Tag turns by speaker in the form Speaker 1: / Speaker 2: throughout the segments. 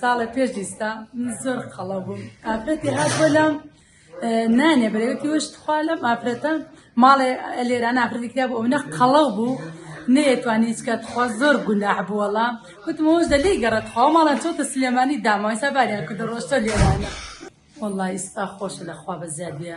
Speaker 1: ساڵێ پێش ئیستا من زۆر قەڵە بووم ئافرەتی هات بۆ لام نانێ برێوتی وشت خوا لەم ئافرەتە ماڵێ لێرا نافرەتی کرا بۆ ئەونە قەڵەو بوو نەیەتوانی هیچکە تخوا زۆر گوناح بووەڵا وتمەوەش دە لێی گەڕێت خوا ماڵە چۆتە سلێمانی داماویسا باریان کردە ڕۆشتە لێرانە والله ئیستا خۆشە لەخوا بە زیادە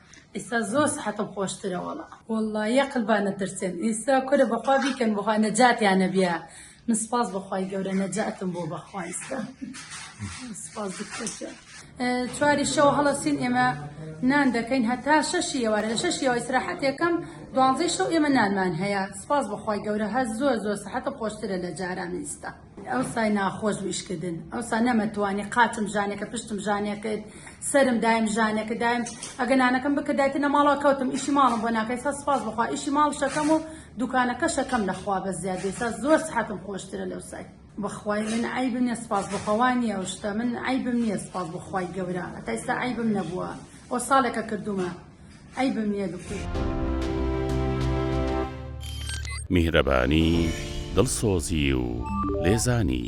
Speaker 1: ئیستا زۆر سحەتم خۆشترە وەڵا. وەڵا یە قلبا نەترسێن ئیستا کورە بەخوا بیکەن بەخوا نەجاتیانە بیا من سپاس بەخوای گەورە نەجاتم بۆ بەخوا ئیستا سپاس بکەشە چواری شەو هەڵەسین ئێمە نان دەکەین هەتا شەشی ئێوارە لە شەشی ئەوە ئیسراحەتێکەم دوانزەی شەو ئێمە نانمان هەیە سپاس بەخوای گەورە هەر زۆر زۆر سەحەتە خۆشترە لە جاران ئیستا ئەوسای ناخۆش بوو ئیشکردن ئەوسا نەمەتوانی قاچم ژانێکە پشتم ژانێکرد سرم دایم ژانێکە دایم ئەگە نانەکەم بکردایتە نەماڵا کەوتم ئیشی ماڵم بۆ ناکەی سا سپاس بخوا ئیشی ماڵ شەکەم و دوکانەکە شەکەم لەخوا بە زیاد بێسا زۆر سحەتم خۆشترە لەو سای بەخوای من عیبم نیە سپاس بخوا نیە ئەو شتە من عیبم نیە سپاس بخوای گەورە ئەتایستا عیبم نەبووە ئەو ساڵێکە کردومە عەیبم نیە
Speaker 2: بکوژم. میهرەبانی، دڵسۆزی و لێزانی.